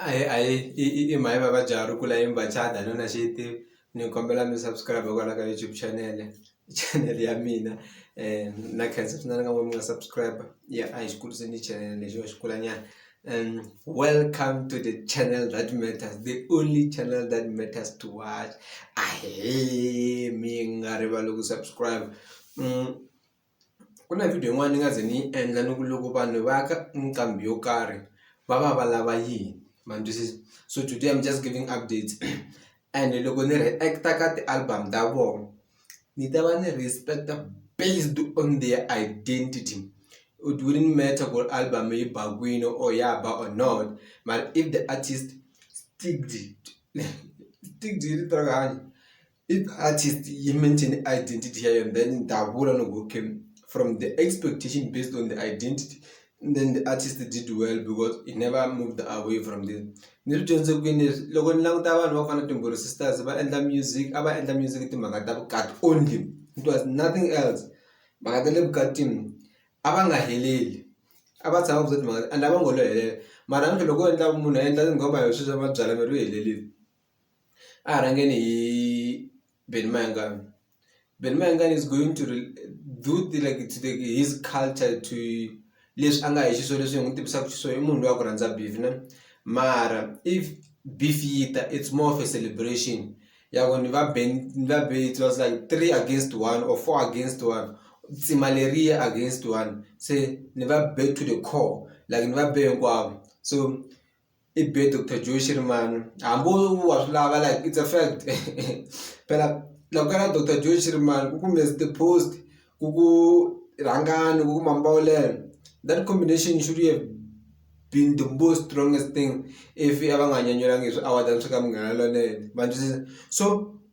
a hi a hi i i i mhani vavabyi a ri kula yini va chada a ni na xi yi tivi ni kombela mi subscribe kwala ka YouTube channel channel ya mina na khensa swinene ka n'wina mi nga subscribe ya a hi xi kuriseni channel lexiwa xi kula nyana welcome to the channel that matters the only channel that matters to watch ahee mi nga rivali ku subscribe . ku na video yin'wana ni nga ze ni yi endla ni ku loko vanhu va ya ka nqambi yo karhi va va va lava yini ma ni twisisa so today I'm just giving updates ene loko ni react-a ka ti-album ta vona ni ta va ni respect-a based on their identity it wouldn't matter ku ri album yi ba kwini or ya ba or not mara if the artist . If artist he mention identity here and then Davula no go came from the expectation based on the identity then the artist did well because he never moved away from this ni swi dyondze kwini leswi loko ni languta vanhu va ku fana timbholo sisters va endla music a va endla music timhaka ta vukati only it was nothing else mhaka ta le vukatini a va nga heleli a va tshama ku za timhaka and a va ngo lo helela mara namuntlha loko wo endla munhu a endla tinghoma hi sweswi va byala miri u helelile. a hi rhangeni hi Benny Mayengani Benny Mayengani is going to do like to the his culture to leswi a nga hi xiswona leswi hi n'wi tivisaka xiswona i munhu loyi a ku rhandza beef na mara if beef yi ta it's more of a celebration ya ku ni va ben ni va be it was like three against one or four against one tsima leriya against one se ni va be to the core like ni va be hinkwavo so. i be Doctor Joe Shirimani hambi wa swi lava like it's a fact phela loko ku nga ri Doctor Joe Shirimani ku ku Mister Post ku ku Rhangani ku ku Mambawulele that combination should have been the most strongest thing if a va nga nyenyelanga hi swi award-a swa ka Munghana Lonene ma ni twisisa so.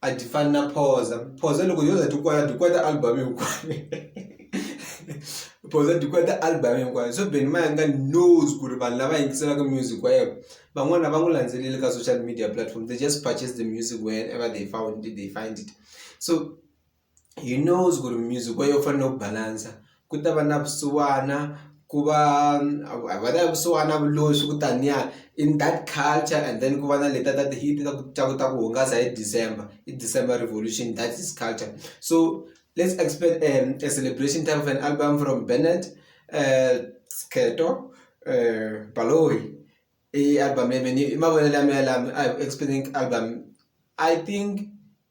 a ti fani na phoza phoza loko yo za ti kwala ti kwata album hinkwayo phoza ti kwata album hinkwayo so ben mayanga knows ku ri vanhu lava yingiselaka music wa yena van'wana va n'wi landzeleli ka social media platform they just purchase the music whenever they found it, they find it so he knows ku ri music wa yo u fanele u balance ku ta va na vusiwana ku va a va ta ya vusiwana na vuloyi swi ku taniya in that culture and then ku va na leta ta ti-hit ta ku ta ku ta ku hungasa hi December i December revolution that is culture so let's expect a celebration type of an album from Bennet Skhento Baloyi i album leyi mehe ni i mavonelo ya mehe lama a hi ku expect-eni album I think.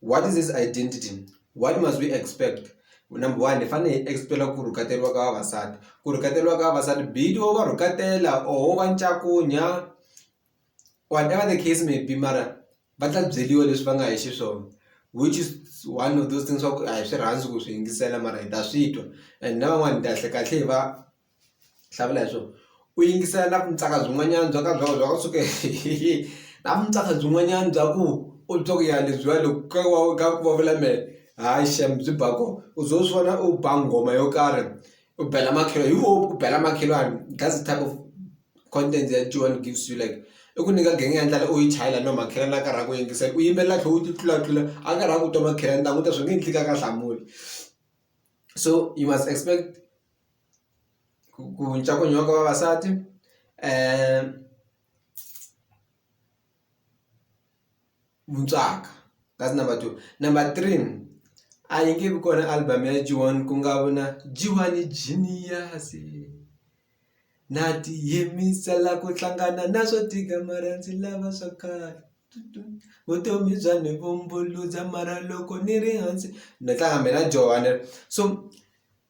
What is this identity? What must we expect? Number one, hi fanele hi expect-a ku rhuketeriwa ka vavasati. Ku rhuketeriwa ka vavasati be it wo va rhuketela or wo va ncakunya, whatever the case may be mara va ta byeriwa leswi va nga hi xiswona. Which is one of those things swa ku a hi swi rhandzi ku swi yingisela mara hi ta swi twa and na van'wana kahlekahle hi va. hlawula leswo u yingisela na vuntsaka byin'wanyana byo ka byi nga byi nga suka hi na vuntsaka byin'wanyana bya ku u twa ku ya lebyiwa loko ka wa ka ku va vula mehe hayi shame byi ba kona u ze u swi vona u ba nghoma yo karhi u bela makhelo hi wo u bela makhelwani that's the type of content that Joan gives you like i ku nyika genge ya ndlala u yi chayela no makhelwani a karhi a ku yingisela u yimbelela tlhela u ti tlulatlula a karhi a ku twa makhelwani ni ta languta swi nge endli ka ka hlamula so you must expect ku ku cinca ku nyikiwa ka vavasati mucaka that's number two number three a yi nge vi kona album ya G1 ku nga vi na G1 i genius na ti yimisela ku hlangana na swo tika mara ndzi lava swa khale vutomi bya ni vumbuludza mara loko ni ri hansi ni tlanga mina Joni so.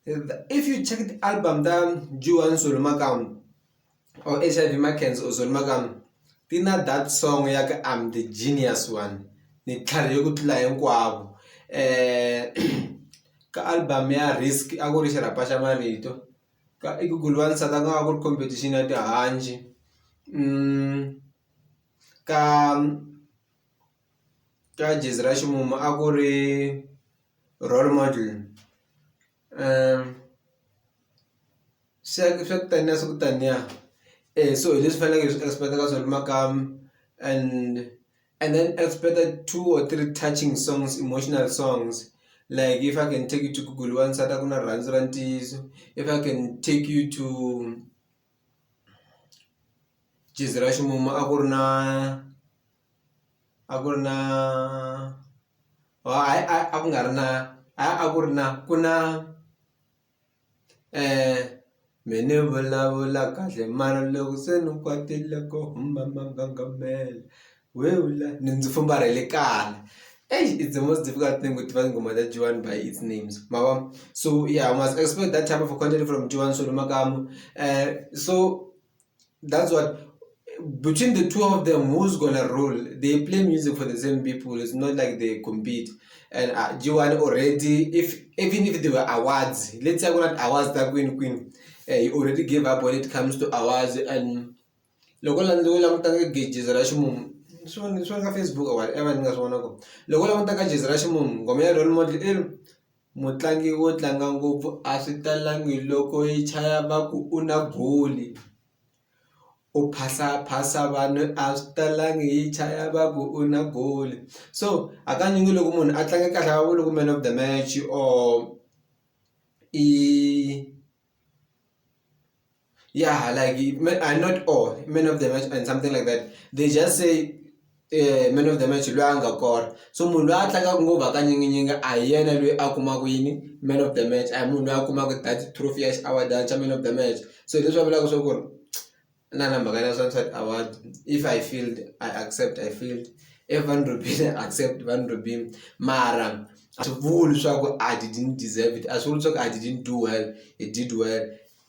If you check the album ta Juan Zulumakam or HIV Makens or Zulumakam, ti na that song ya ka I'm the genius one ni tlhari yo ku tlula hinkwavo eh ka album ya risk a ku ri xirhapa xa marito ka i ku guluwa ni sata ku nga ku ri competition ya tihanci mm ka ka gezi ra ximumu a ku ri role model swa ku swa ku taniya swa ku taniya eya so hi leswi faneleke hi swi expect-aka swona makaya and and then expect-a two or three touching songs emotional songs like if I can take you to Google wansati a ku na rirhandzu ra ntiyiso if I can take you to. Gezi ra ximumu a ku ri na a ku ri na hayi a ku nga ri na a a ku ri na ku na me ni vulavula kahle mara loko se ni kwatile ku huma manganga . we wula ni ndzi famba ra le kaya eish it's the most difficult thing ku tiva tinghoma ta G_one by its names ma vo so ya u must expect that type of content from G_one Solo Makamu so that's what between the two of them who's gonna rule they play music for the same people it's not like they compete and uh, G_one already if even if there were awards let's say ku na ti-awards ta kwini kwini eh, he already gave up when it comes to awards and loko la ndzi langutaka gezi ra ximumu swi vona swi nga Facebook or whatever ni nga swi vona ku loko u langutaka gezi ra ximumu nghoma ya role model i ri mutlangi wo tlanga ngopfu a swi talangi loko yi chaya va ku u na goli u phasa phasa vanhu a swi talangi yi chaya va ku u na goli so hakanyingi loko munhu a tlanga kahle a va vuli ku man of the match or i. Yeah, like I'm not all men of the match and something like that. They just say eh, man of the match loyi a nga kora so munhu loyi a tlangaka ngopfu hakanyinginyinga a hi yena loyi a kumaka yini man of the match a hi munhu loyi a kumaka that trophy ya xiaward xa man of the match so hi leswi va vulaka swa ku ri na na mhaka na sunset award if i failed i accept i failed if van robin i accept van robin mara a swi vuli swa ku i didn't deserve it a swi vuli swa ku i didn't do well i did well